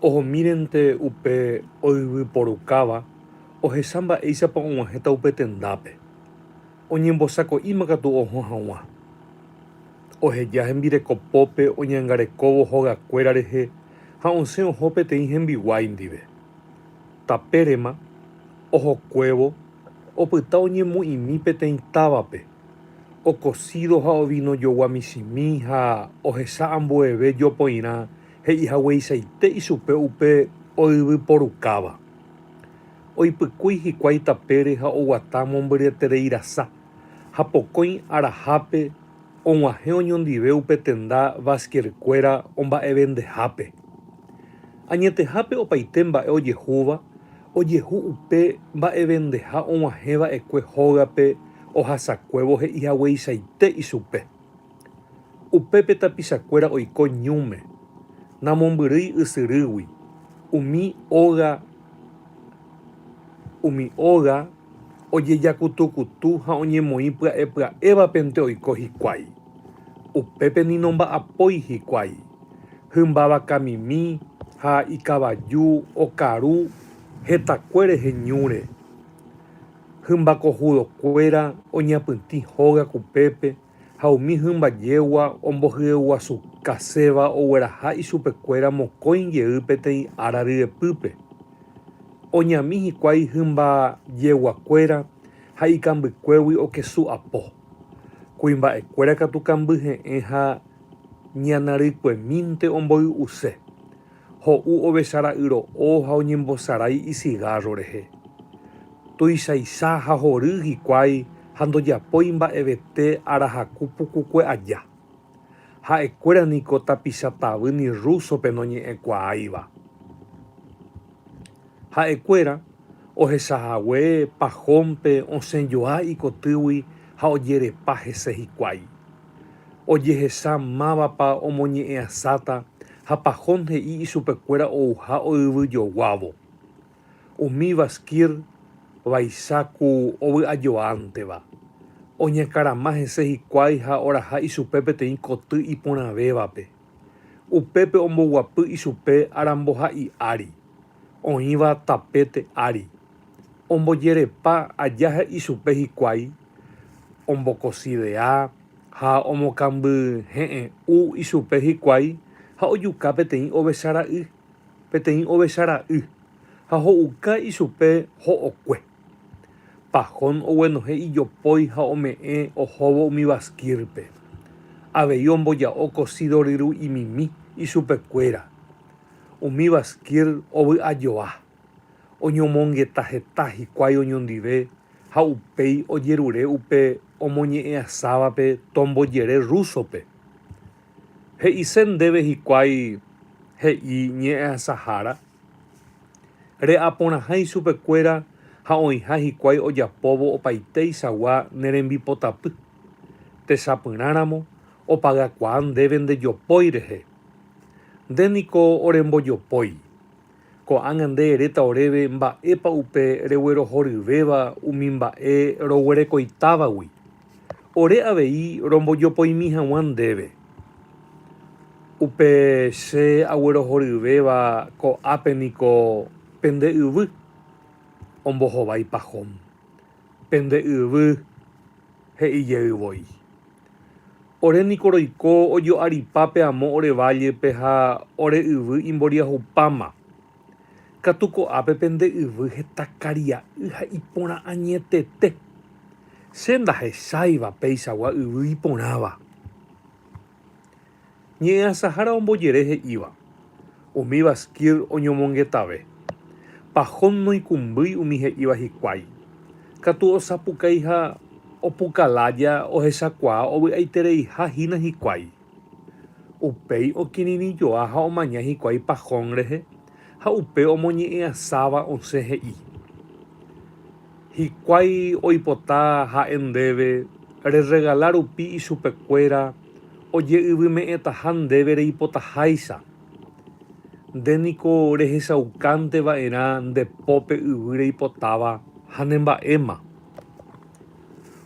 Ohomírente upe oyvyporukáva ohecha mba'éichapa og̃uahẽta upe tendápe, oñembosako'íma katu ohõ haguã. Oheja hembireko pópe oñangarekóvo hogakuéra rehe ha osẽ oho peteĩ hembiguái ndive. Tapérema, ohokuévo, opyta oñemoĩmi peteĩ távape, okosído ha ovinojogua michĩmi ha ohecha ambueve jopoirã He'i hagueichaite ichupe upe oyvy porukáva. Oipykúi hikuái tapére ha oguata mombyryetereirasa, ha pokõi arahápe og̃uahẽ oñondive upe tenda Vázquerkuéra omba'evendehápe. Añetehápe opaite mba'e ojehúva ojehu upe mba'evendeha og̃uahẽ va'ekue hógape ohasakuévo he'i hagueichaite ichupe. Upépe tapichakuéra oiko ñúme, namombyrýi ysyrýgui, umi óga umi óga ojejakutukutu ha oñemoĩ pya'epya'évapente oiko hikuái. Upépe ni nomba'apói hikuái, hymba vakamimi ha ikavaju okaru hetakue rehe ñúre. Hymba kohudokuéra oñapytĩ hóga kupépe. ha umi hymba jégua ombohyeguasukaséva ogueraha ichupekuéra mokõi jey peteĩ ára ryepýpe. Oñami hikuái hymba jeguakuéra ha ikambykuégui okesu apo. Kuimba'ekuéra katu kambyhe'ẽ ha ñanarykuemínte omboy'use. Ho'u ovecha ra'yro'o ha oñembosarái isigárro rehe. Tuichaisa ha hory hikuái ha ndojapói mba'evete arahaku pukukue aja. Ha'ekuéra niko tapicha tavy ni rúsope noñe'ẽkuaáiva. Ha'ekuéra ohecha hague Pajónpe osẽ joa ikotýgui ha ojerepa hese hikuái. Ojehecha mávapa omoñe'ẽasáta, Japajón he'i ichupekuéra ouha oyvyjoguávo. Umi Vashkir vaicha ku ovy'ajoánteva. Oñakarama hese hikuái ha oraha ichupe peteĩ koty iporãvévape. Upépe omboguapy ichupe aramboha'i ári, oĩva tapete ári. Ombojerepa aja he'i chupe hikuái ombokosidea ha omokãmbyhe'ẽ'u ichupe hikuái ha ojuka peteĩ ovecha ra'y, peteĩ ovecha ra'y, ha ho'uka ichupe ho'okue. Pahón oguenohẽ ijopói ha ome'ẽ ohóvo umi baskírpe. Avei omboja'o kosido ryru'imimi ichupekuéra. Umi baskír ovy'ajoa. oñomongeta heta hikuái oñondive ha upéi ojerure upe omoñe'ẽasávape tombojere rúsope. He'ise ndéve hikuái he'i ñe'ẽasahára? Re'aporãha ichupekuéra ha oĩha hikuái ojapóvo opaitéichagua ne rembipotapy. Techapyrãramo opagakuaa ndéve ndejopói rehe. Nde niko orembojopói, Ko'ág̃a nde eréta oréve mba'épa upe reguerohoryvéva umi mba'e roguerekoitávagui, ore avei rombojopoimi hag̃ua ndéve. Upe che aguerohoryvéva ko'ápe niko pende yvy ombohovái pahom, pende yvy he'i jey voi. Ore niko roiko ojo'aripa pe amo ore vállepe ha ore yvy imboriahupáma. Katu ko'ápe pende yvy heta karia'y ha iporã añetete. Che ndahecháiva peichagua yvy iporãva. Ñe'ẽasahára ombojere he'íva, Umíva Skir oñomongetave. Pahón noikũmbýi umi he'íva hikuái. Katu osapukái ha opukalája ohechakuaa ovy'aitereiha hína hikuái. Upéi okirirĩjoa ha omaña hikuái Pahón rehe ha upe omoñe'ẽasáva osẽ he'i. Hikuái oipota ha'e ndéve rerregala rupi ichupekuéra oje'yvyme'ẽtaha ndéve reipotaháicha. Nde niko rehechaukánte va'erã nde pópe yvy reipotáva ha ne mba'éma.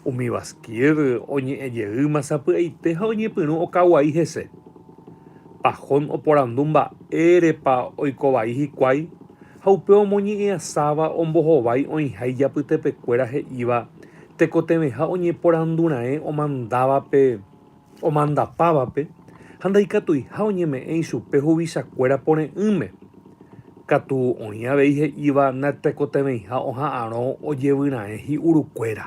Umi Basquier oñe'ẽ jeýma sapy'aite ha oñepyrũ okaguai hese. Pajón oporandu mba'érepa oiko vai hikuái ha upe omoñe'ẽasáva ombohovái oĩha ijapytepekuéra he'íva tekotevẽha oñeporanduraẽ omandávape omandapávape ha ndaikatuiha oñeme'ẽ ichupe huvichakuéra pore'ỹme, katu oĩ avei he'íva natekotevẽiha oha'arõ ojevyraẽ hi'urukuéra.